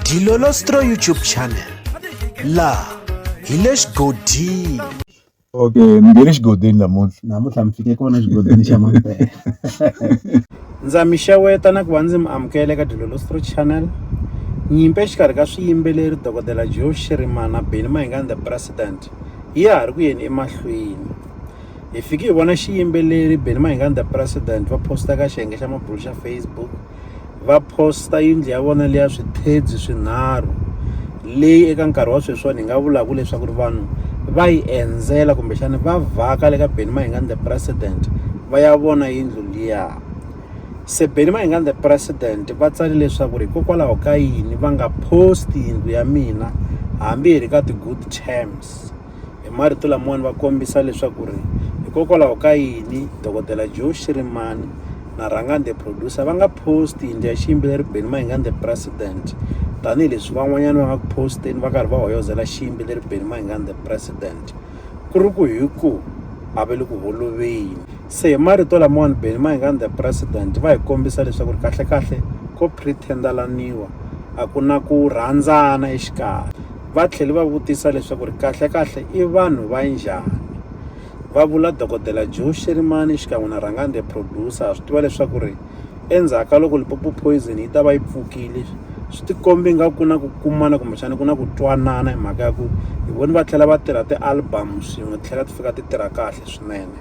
Dilolostro YouTube channel laha hi le xigodini okay mi nge le xigodini namuntlha namuntlha mi fike kona xigodini xa mampela ndza mi xeweta na ku va ndzi mi amukela eka dilolostro channel nyimpi exikarhi ka swiyimbeleri dokodela joe shirimana beni mahingani the president ya ha ri ku yeni emahlweni hi fike hi vona xiyimbeleri Benny Mahingani the president va posta ka xiyenge xa mabulo xa Facebook va posta yindlu ya vona leya swithedzi swinharhu leyi eka nkarhi wa sweswiwani hi nga vulaka leswaku ri vanhu va yi endzela kumbexana va vhaka le ka Benny Mahingani the president va ya vona yindlu liya se Benny Mahingani the president va tsale leswaku ri hikokwalaho ka yini va nga post yindlu ya mina hambi hi ri ka ti-good terms. Hi marito lamawani va kombisa leswaku ri hikokwalaho ka yini dokodela Joe Shirimani na Rhangani the producer va nga post yindlu ya xiyimbeleri Benny Mayengani the president tanihileswi van'wanyana va nga ku posteni va karhi va hoyozela xiyimbeleri Benny Mayengani the president ku ri ku hi ku a va le ku holoveni se hi marito lamawani Benny Mayengani the president va hi kombisa leswaku ri kahlekahle ko pretend-alaniwa a ku na ku rhandzana exikarhi va tlhele va vutisa leswaku ri kahle-kahle i vanhu va njhani. Va vula Dokodela Joe Sherimani xikan'we na Rhangani the Producer. Ha swi tiva leswaku ri endzhaku ka loko Limpopo Poison yi ta va yi pfukile, swi ti kombe nga ku na ku kumana kumbexana ku na ku twanana hi mhaka ya ku hi voni va tlhela va tirha ti-album swin'we ti tlhela ti fika ti tirha kahle swinene.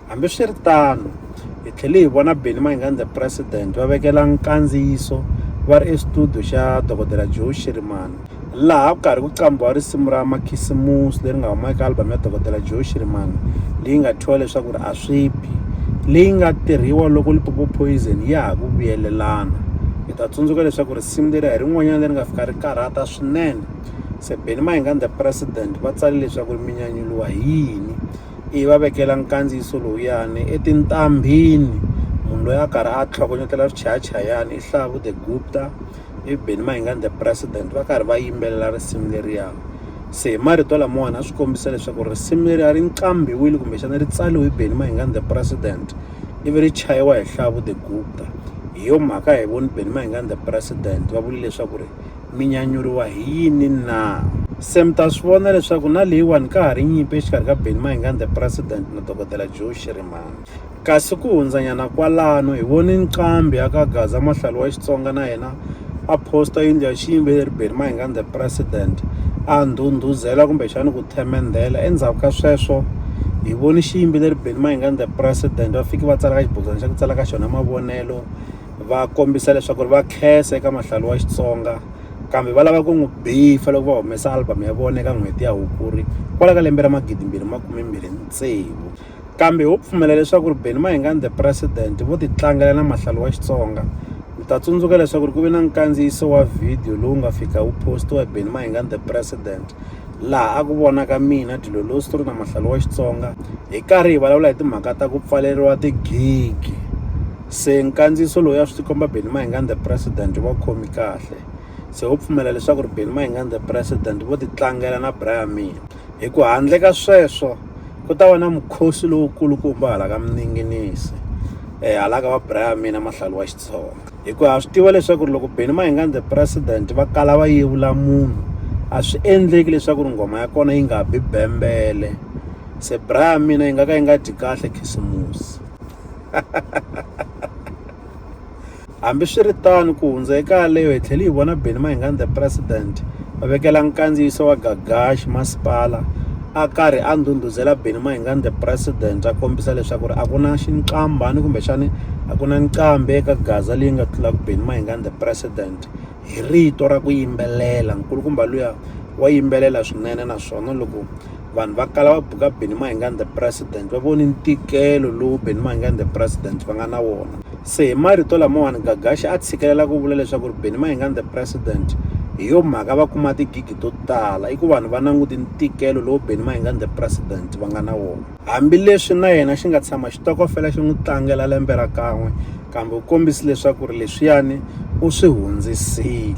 Hambiswiritano, hi tlhele hi vona Benny Mayengani The President va vekela nkandziyiso va ri exitudiyo xa Dokodela Joe Shirimani laha ku karhi ku qambhiwa risimu ra Makhisimusi leri nga huma eka album ya Dokodela Joe Shirimani leyi nga thyiwa leswaku ri a swi bi leyi nga tirhiwa loko Limpopo Poison ya ha ku vuyelelana. Hi ta tsundzuka leswaku risimu leri a hi rin'wanyana leri nga fika ri karhata swinene. Se Benny Mayengani The President va tsale leswaku ri mi nyanyuriwa hi yini? ivi va vekela nkandziyiso lowuyani etintambhini munhu loyi a karhi a tlhogonyetela swichayachayani i Hlavu the Gupta i Benny Mayengani the president va karhi va yimbelela risimu leriya se hi marito lamawani a swi kombisa leswaku risimu leri a ri nqambiwile kumbexana ri tsaliwe hi Benny Mayengani the president ivi ri chayiwa hi Hlavu the Gupta hi yo mhaka hi voni Benny Mayengani the president va vula leswaku ri. mi nyanyuriwa hi yini na? Se mi ta swi vona leswaku na leyiwani ka ha ri nyimpi exikarhi ka Benny Mayengani the President na Dokodela Joe Shirimani. Kasi ku hundzanyana kwalano hi vone nqambi ya ka Gaza Mahlalu wa Xitsonga na yena a posta yindlu ya xiyimbeleri Benny Mayengani the President a ndhundhuzela kumbexani ku themendhela endzhaku ka sweswo hi vone xiyimbeleri Benny Mayengani the President va fiki va tsala ka xibodwana xa ku tsala ka xona mavonelo va kombisa leswaku ri va khensa eka mahlalo wa Xitsonga kambe va lava ku n'wi bifa loko va humesa album ya vona eka n'hweti ya Hukuri kwala ka lembe ra magidi mbirhi makume mbirhi tsevu kambe ho pfumela leswaku ri Benny Mayengani the president vo ti tlangela na mahlalo wa Xitsonga mi ta tsundzuka leswaku ri ku ve na nkandziyiso wa video lowu nga fika wu postiwa Benny Mayengani the president laha a ku vonaka mina dilo lowu swi ri na mahlalo wa Xitsonga hi karhi hi vulavula hi timhaka ta ku pfaleriwa tigigi. Se nkandziyiso lowu ya swi tikomba Benny Mayengani the president wu va khomi kahle se wo pfumela leswaku ri Benny Mayengani the president vo ti tlangela na Brian May hi ku handle ka sweswo ku ta va na mukhosi lowu kulukumba hala ka mininginisi eh hala ka va Brian May na mahlalu wa Xitsonga hi ku ha swi tiva leswaku ri loko Benny Mayengani the president va kala va yevula munhu a swi endleki leswaku ri nghoma ya kona yi nga bi bembele se Brian May na yi nga ka yi nga dyi kahle khisimusi. Hambiswiritano, ku hundza eka yaleyo hi tlhele hi vona Benny Mayengani the President a vekela nkandziyiso wa Gagash masipala a karhi a ndhundhuzela Benny Mayengani the President a kombisa leswaku ri a ku na xinqamba ni kumbexani a ku na nqambi eka Gaza leyi nga tlulaka Benny Mayengani the President hi rito ra ku yimbelela nkulukumba luya wa yimbelela swinene naswona loko vanhu va kala va buka Benny Mayengani the president va voni ntikelo lowu Benny Mayengani the president va nga na wona se hi marito lamawani Gagashi a tshikelela ku vula leswaku ri Benny Mayengani the president hi yo mhaka va kuma tigigi to tala i ku vanhu va languti ntikelo lowu Benny Mayengani the president va nga na wona hambileswi na yena xi nga tshama xitokofela xi n'wi tlangela lembe ra kan'we kambe u kombisi leswaku ri leswiyani u swi hundzisile